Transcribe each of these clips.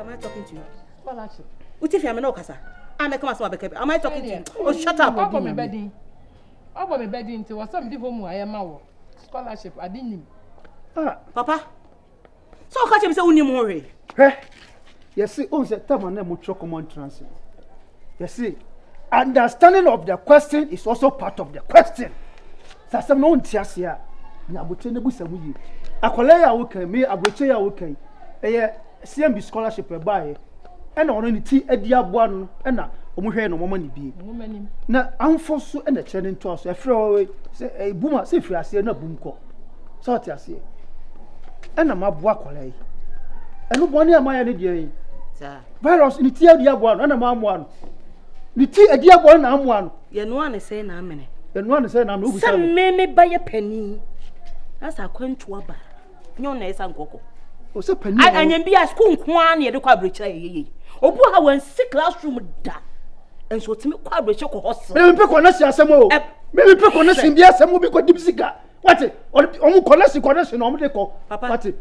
Am I talking to you? Balachi. Uti fi amena okasa. Ame kama so abeke. Am I talking to you? Oh, shut up. Obo me bedi. Obo me bedi nti wo sam di homu aye ma wo. Scholarship ade nim. Ah, papa. So ka che bi se unim ho hwe. Hwe. yɛse ohun sɛ tam a na ɛmo twerɛ kɔmɔ ntra ase no yɛse understanding of the question is also part of the question sɛ asɛm no wonte aseɛ a na abotire no busa ho yie akwadaa yi a wokan me aburokyire yi a wokan ɛyɛ cmb scholarship ɛbaeɛ ɛna ɔno ne ti adi aboa no ɛna wɔn hwɛ na wɔn ani bie na ahofo so ɛna kyerɛ ne ntoa so ɛfrɛ wɔwe sɛ ɛbum a sɛ firi aseɛ na bum kɔ So ɔte aseɛ? Ɛna maboa akwadaa yi. Ɛno bɔne a mayɛ ne deɛ yi. Virus ne ti adi aboa no ɛna mamoa no. Ne ti adi aboa no na amoa no. Yɛnoa ne sɛn na amene. Yɛnoa ne sɛn na amene ogu sɛ. Sɛ me me ba yɛ panin. Asa akwantu aba. Nyɛ ɔna ɛsa nkɔkɔ. Ɔsɛ panin. Anyɛ bi a sukuu nko ara na yɛde kɔ aburokyerɛ yɛyɛ yɛyi. Obu ha wɔn si classroom da. nso otumi kɔ abirikyi kɔ hɔ so. mímu pɛ kɔnɛsi asɛm o mímu pɛ kɔnɛsi bi asɛm o bi kɔ dibi sika wati ɔmu kɔnɛsi kɔnɛsi na ɔmu de kɔ wati.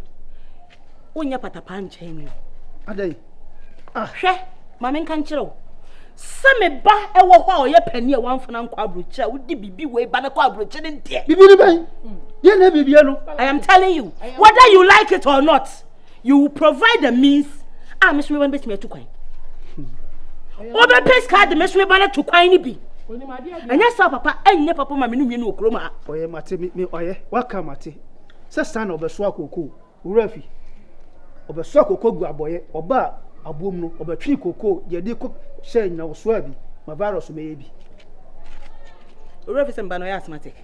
o nyɛ patapa nkyɛn mi o. adai ah. hwɛ maame nka nkyerɛ o sɛ me ba ɛwɔ hɔ a ɔyɛ panyin a wanfana nkɔ aburokyi a wodi bibi wei ba ne kɔ aburokyi ne deɛ. bibi ni bɛn yɛn na bibi yɛ no. i am telling you whether you like it or not. you will provide the means a me someba no bɛtumi atu kwan wobɛpɛ sika de me someba no to kwan no bi ɛnyɛ saa papa ɛnyɛ papa ma me no mmienu wɔ kurom a ɔyɛ mate me ɔyɛ waka mate sɛ saa na ɔbɛso akoko wura fi ɔbɛso akoko gu abɔyɛ ɔba a aboom no ɔbɛtwe koko yɛde kɔ hyɛ nyawosoa bi ma virus mɛyɛ bi wura fi sɛ mba no ɔyɛ asthmatic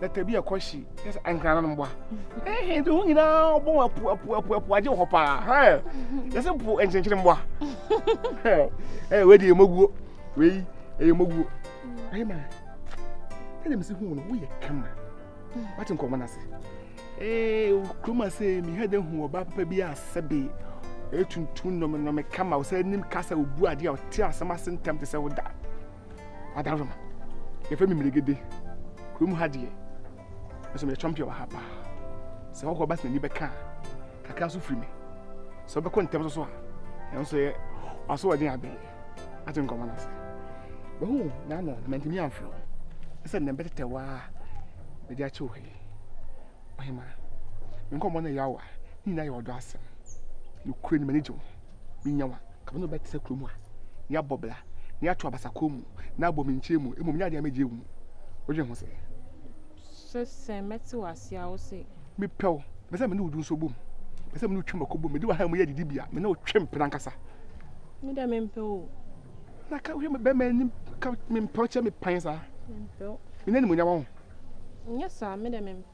na tabi a ɛkɔ hye yɛ sɛ ankrana no mmoa ɛhɛ nti ho nyinaa ɔbɔ wɔn apu apu apu apu agye hɔ paa hɛ yɛ sɛ po nkyenkyere mmoa hɛ ɛyɛ wei deɛ ɛmɔguo wei ɛyɛ mɔguo ayi ma ɛna mesi hu no woyɛ kama wate nkɔmɔ no ase ee kurom ase mi ha de hu ɔbaa papa bi a sɛbe ɛtuntun nɔmɛnɔmɛ kama ɔsɛ anim kasa obu adeɛ a ɔte asɛm ase ntɛm te sɛ woda Madam Roma, yɛfrɛ me Mmeregede. Kurom ha deɛ, nso meyɛ champion wɔ ha paa. Sɛ hɔhoɔ ba sɛ n'ani bɛka a, kakra nso firi me. Sɛ wobɛkɔ ntɛm nso so a, ɛno nso yɛ w'asoɔden abe. Ate nkɔmmɔ no ase. Wahu n'ano na mantumi amfrɛ wo. Ɛsɛ nnɛ bɛtetɛ wo a mede akyɛ wo ha yi. Ɔhemaa, me nkɔmmɔ no yɛ awa, ne nyinaa yɛ ɔdɔ asɛm. Nokorɛ ni, m'ani gye wo ho. menya wo a, ka me ne wo bɛtena kurom a, na yɛabɔ bra, na yɛato abasakoɔ mu, na abɔ me nkyɛn mu, mmom nyɛ adeɛ a mɛgye agu mu. Wodwen ho sɛ. Sɛ sɛ mɛte wo ase a, wo se. Mepɛ wo, mepɛ sɛ me ne wo du nso bom, mepɛ sɛ me ne wo twe mmɔko bom, mede w'ahan mu yɛ adidibea, me ne wo twe mpena ankasa. Me deɛ mempɛ wo. Na ka hwɛ me bɛma anim, ka mempɛ wo kyɛ me pan saa. Mempɛ wo. Me ne animuonyam ho. Nyɛ saa, me deɛ mempɛ.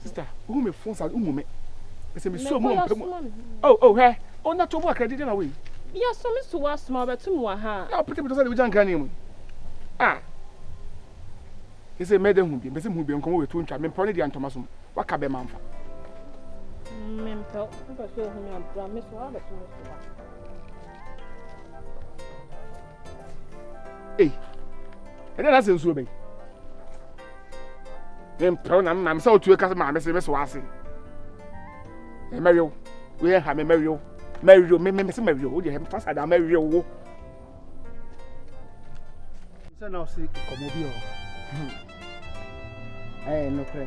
Sista, wohu me fon sa de, womu me. Ɛsɛ me suo mu ɔmpɛ mu. Oh, oh, hwɛ. Oh, na to mu akra didi na wei. Bia so me so wasoma ɔbɛto mu aha. Na ɔpete pete sɛ de wogya nkra ne mu. Ah. Ɛsɛ mɛ de hu bi, mpɛsɛ mu bi nkɔmɔ wɔ etu ntwa, me mpɛw ne deɛ ntɔma som. Waka bɛ manfa. Me mpɛw, mpɛsɛ ohun abra me so abɛso me so. ei ɛnna na sɛ nsuo bɛyi ne mpɛw na mma sɛ wotu ɛka sɛ maame se mɛsɛ w'ase mɛwew woyɛ ha me mɛwew mɛwew me me se mɛwew wodeɛ hɛ fa saa daa mɛwew wo sɛ na ɔse nkɔmmɔ bi wɔ hɔ Ɛyɛ nokorɛ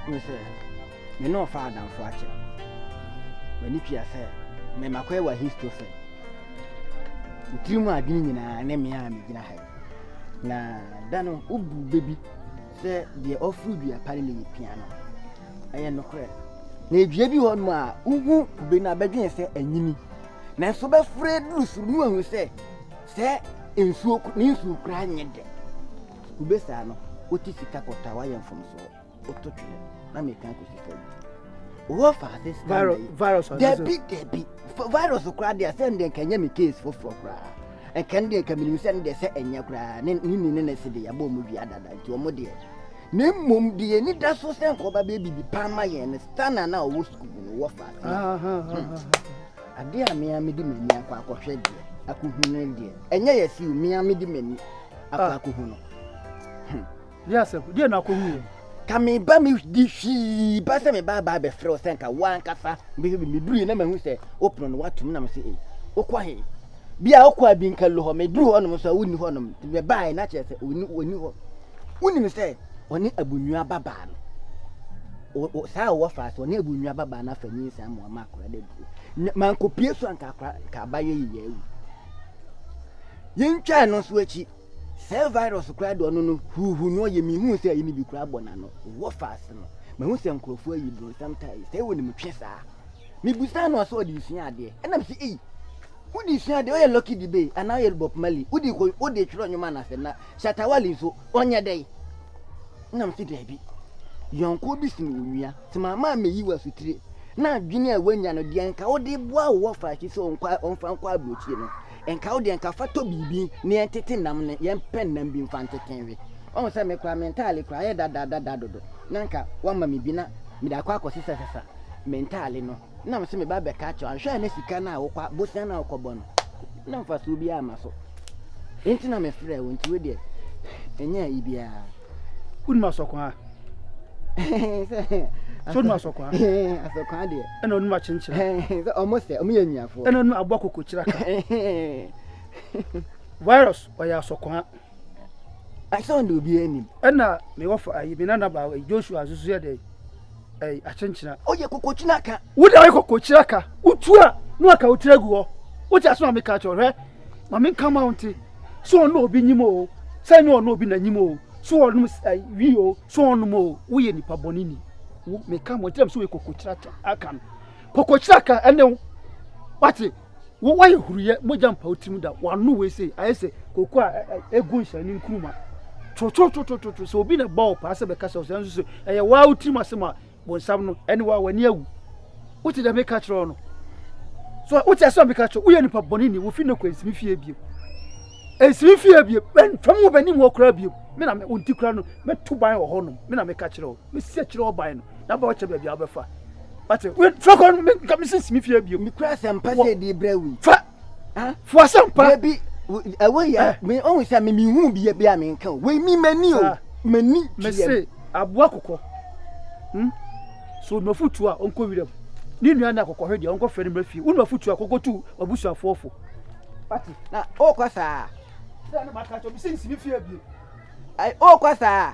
ne sɛ, me ne ɔfaa adamfo akyɛ. M'ani tua sɛ me makɔyɛ wɔ Ahistofel. Wo tirim adwene nyinaa ne me a megyina ha yi. Na da no wobu bɛ bi sɛ deɛ ɔforo dua pa ne ne yɛ pia no. Ɛyɛ nokorɛ. Na edua bi hɔ nom a wohu kube no a bɛdwene sɛ anyini. Nanso bɛforo aduru soro no ahu sɛ sɛ nsuo ne nsuo koraa nyɛ dɛ. Kube saa no, wote sika kɔtɔ a wayɛ mfomsoɔ, woto twene na mekan kɔsi fam. Wowɔ faase scanner yi. Virus ɔno so. Dabi dabi. F- Virus koraa deɛ sɛ ndeɛ nka ɛnyɛ me case foforɔ koraa. Nka ndeɛ nka menim sɛ ndeɛ sɛ ɛnyɛ koraa ne ne ni ne ne se deɛ yɛabɔ ɔmo wia dada nti ɔmo deɛ. Na mmom deɛ ani da so sɛ nka ɔba bɛyɛ biribi paa ma yɛn no scanner no a ɔwɔ sukuu mu no wɔ faase a. Ah, ah, ah, ah, ah. Adeɛ a mea mede m'ani akɔ akɔhwɛ deɛ akɔhu no deɛ ɛnyɛ yɛsiw mea mede m'ani akɔ ah. akɔhu no hmm. deɛ asɛ deɛ na akɔhu yɛ ka me ba me di hwii ba sɛ me ba ba bɛfrɛ wo sɛ nka wo ankasa bɛhwɛ bi meduru yɛ na mahu sɛ wopono no woatom nam sɛ ei wokɔ he bia wokɔ a bi nka lo hɔ meduru hɔnom so a wonni hɔnom nti mɛbaeɛ na kyerɛ sɛ ɔni hɔ wonim sɛ ɔne abunua babaa no saa a wɔfa so ɔne abunua babaa no afa nyinsa mu ama akora da duro mankɔpie so anka akora nka abayɛ yiyɛ awu Yentwaa no nso akyi. Saa virus koraa de ɔno no huuhuu no ɔyɛ mihuu sɛ ɛyi no bi koraa bɔ n'ano wɔ faase no mahu sɛ nkurɔfoɔ ayi bronsam tae sɛe wɔ ne mu twe saa mebusaa no ɔsɛ ɔde sua adeɛ ɛna mese ei wode sua adeɛ ɔyɛ Lucky Dube anaa ɔyɛ Bob Marley wode kɔ wode twerɛ nnwom anasɛm na Shatta Wale nso ɔnyɛ dɛn na mese daabi yɔnkoɔ bi sene onua tema ma meyi wɔ asotire na adwene a wanya no deɛ nka wode boa wɔ faase sɛ ɔmfa nkɔ aburokyire no Nka wo deɛ nka fa tɔ biribi na yɛn tete nam no yɛn pɛ nam bi nfa ntete nwe wahu sɛ me koraa me ntaale koraa ayɛ dada dada dodo na nka wama me bi na mede akɔ akɔ sesa sesa me ntaale no na mese me ba bɛka akyɛw anhwɛ a na sika no a wokɔ bosia no a wokɔ bɔ no na mfasoɔ biara ma so nti na me frɛ wo nti wo deɛ ɛnyɛ ayi biara wonim asɔkwan a sóni ma sɔkwa asɔkwa deɛ ɛna ɔnum akyenkyerɛ sɛ ɔmo sɛ ɔmo yɛ nnuafoɔ ɛna ɔnum aboa kokokyerɛ ka virus ɔyɛ asɔkwa asɔn de obi anim ɛna me wɔfa ayi me nana baa joshua nso so yɛ dɛ ɛyi akyenkyerɛ ɔyɛ kokokyerɛ ka wode ayɛ kokokyerɛ ka wotu a na waka wotiri agu hɔ wote asɛm a meka kyerɛ hwɛ ma menka ma wo nte sɛ ɔne obi nyim o sɛ ɛnyɛ ɔne obi na nyim o sɛ ɔnom wi o sɛ ɔnom o woyɛ nipa bɔne ni wo meka mo nkyerɛ m sɛ woyɛ kokokyira aka no kokokyira aka ɛne wo wate wo woayɛ huruyɛ mogya mpa wo tirim da wano wei sei ayɛ sɛ koko a ɛgu nhyɛne nkuruma twotwotwotwotwo sɛ obi na bɔ wo paa sɛ bɛka sɛ ɔsɛ nso sɛ ɛyɛ waa wo tirim asɛm a bonsam no ɛne wa w'ani awu wote dɛ meka kyerɛ wo no so wote asɛ meka kyerɛ woyɛ nipa bɔne ni wofi ne kɔ nsimi fie bio nsimi fie bio fam wo bɛnim hɔ koraa bio me na wo nti koraa no mɛto ban wɔ hɔnom me na meka kyerɛ wo mesi akyerɛ wo ban no na ba wokyɛ baabi a wobɛfa wate frɛ kɔ no meka mesi nsimi fie bio mekura asɛmpa sɛ ɛde brɛ wei fa fuasɛm pa. Ebi ɛwɔ yɛ eh. mi ohun sɛ mi mi hu bi ebi a mi nka o wei mi mɛ ni o ah. mɛ ni tuyɛ. mɛ se aboa kɔkɔ hmm? so onuma futu a ɔnkɔ wira mu ne nua na kɔkɔ hwɛ deɛ ɔnkɔ fɛ ne mɛ fie onuma futu a kɔkɔ tu abusuafoɔ fo. pati na o kɔ saa. sɛ ɛna ma ka kyɛ obi si nsi mi fie bi. o kɔ saa.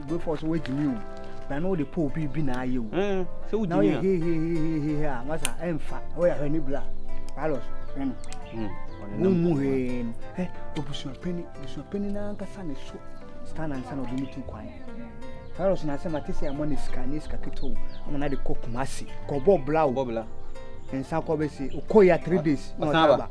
Before so wait me o. But I know the poor be be na you. Eh, so we Now you he he he he he he. What's that? I'm fat. Oh yeah, honey blah. Carlos. Hmm. Mu mu he. Eh, obusua penny, obusua penny na anka sane so. Stand and sana obini tu kwan. Carlos na sema tese ya money ska ni ska kito. Ama na de ko kumasi. Ko bo blah. Bo blah. Nsa ko besi. Ukoya 3 days. Masaba.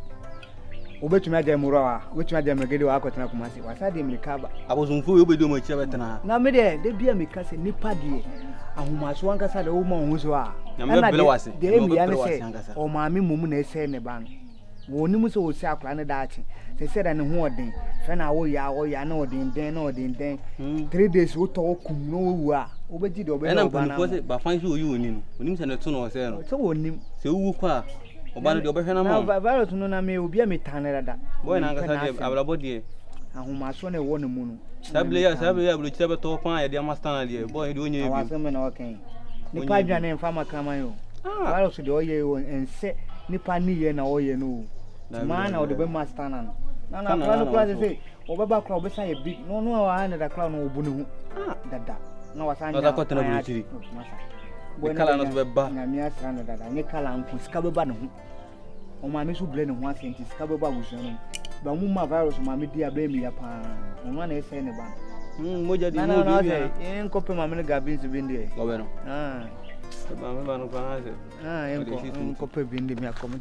Wobɛtumi agya mmura wa, wobɛtumi agya mmerɛgɛde wa akɔtena Kumasi, wasa de mmirika aba. Abosomfo yi wobɛdi wɔn akyi abɛtena ha. Na me deɛ, da bi a meka sɛ nipa deɛ ahomaso ankasa deɛ woma wɔn ho so a. Ɛna deɛ deɛ mmea ne sɛ ɔmaame mmom na ɛsɛ ne ba no. Wɔn nim sɛ wɔsɛ akora ne daakye. Sɛ sɛ da ne ho ɔden, fɛ na wɔyɛ a wɔyɛ a na ɔden dɛn na ɔden dɛn. Hmm. Three days wotɔ wɔ kum na wɔwu a wobɛgye deɛ ɔbɛyɛ ɔba no. Ɛna mpanyinfoɔ sɛ bafan sɛ oyi wɔn ni no, onim sɛ ne to na ɔsɛ no. Sɛ wɔn nim. Sɛ wowu kɔ a. Ɔba no deɛ ɔbɛhwɛ no ama Na virus no na me obi a metan no dada. Boy na ankasa deɛ abrabɔ deɛ. Ahomasoɔ na ɛwɔ ne mu no. Saa bile yɛ saa bile yɛ aburokyire bɛtɔ paa yɛde ama Stanley deɛ boy deɛ ɔnyɛ bi. Awasɛm bɛ na ɔkɛn. Nipa adwane ne nfa ma kraman yi o. Ah. Virus deɛ ɔyɛ yi o ɛnsɛ nipa ne yɛ na ɔyɛ no o. Tumaa na ɔde bɛma Stanley no. Na na akora no kora sɛ sɛ ɔbɛba kora ɔbɛsa yɛ big na ɔno a wɔayɛ dada kora no ɔbu ne ho. Ah. Dada. Na wasan nyɛ. Ɔsakɔtena aburokyire. ne kala no so bɛba nyame asra no dada nyɛ kala nko sika bɛba ne ho ɔmaame so brɛ ne ho ase nti sika bɛba abusua no ba mu ma virus ɔmaame di abɛn mi ya paa ɔno ana ɛsɛe ne ba no hmm, mogya di mu obi bia nkɔpɛ maame no gabi nso bi ndeɛ ɔbɛ no ah. maame ba no kora na sɛ ah, nkɔpɛ bi ndeɛ mi akɔm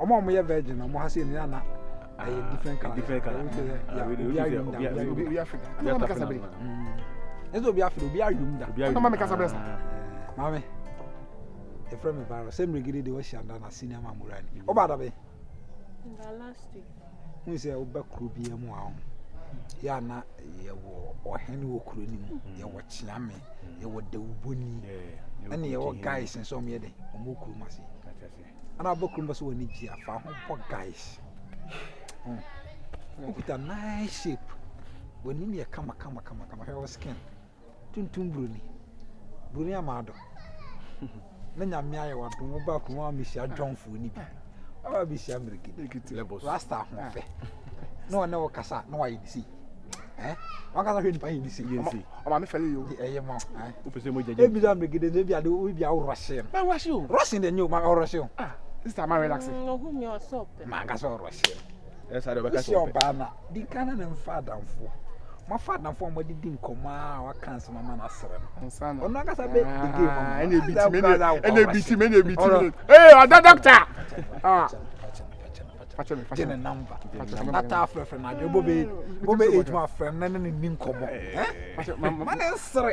ɔmo a ɔmo yɛ virgin ɔmo ha se nea na ɛyɛ different color different color obi ayom da obi afiri da ɛna maame kasa bere ɛsɛ obi afiri obi ayom da ɛna maame kasa bere sa maame efra mi virus sɛ mmerɛ gidi de wɔhyɛ anda na senior mamura ni ɔba adabe. wohu sɛ woba kuro biara mu a yɛ a na yɛwɔ ɔhene wɔ kuro no mu mm. yɛwɔ kyeame mm. yɛwɔ dawubɔni ɛne yɛwɔ guys nso ɔmo yɛ dɛ ɔmo kurom ase ɛna abɔ kurom bɛso wɔn gye afa ho bɔ guys wokuta nice shape wɔn anim yɛ kama kama kama kama hwɛ wɔ skin Tuntum broni, broni amado. Na nyame ayɛ wadom wo ba kuma mehyia dwɔnfoɔ no bi. Ɔba bɛhyia mmerɛgidi. Rasta ahoɔfɛ. Na ɔne wo kasa na wayɛ ne sei. Eh? Wakasa hwɛ nipa yɛ ne sei. Ɔma me fɛle yo. Ɛyɛ ma. Wopɛ sɛ mogya gye. Ebi sɛ mmerɛgidi no ebi ade ebi awo rɔhye no. Ma rɔhye o. Rɔhye deɛ nyɛ o ma rɔhye o. Ah, sista ma relax. Ɔhu mi ɔsɔpɛ. Ma nkasa rɔhye. wosi ɔbaa na di nkan na ne nfa adamfo mafa adamfo a wɔde di nkɔmɔ a waka nsɛm ama no asrɛ no ɔno ankasa bɛ di game ama ah, ɛna ebi ti mi ɛna ebi ti mi ɛna ebi ti mi ee ɔdɔ dɔkta ah gye ne namba ata afrɛfrɛ no adwene bobe bobe age mu afrɛ no na ne ne ni nkɔmɔ ma ne nsere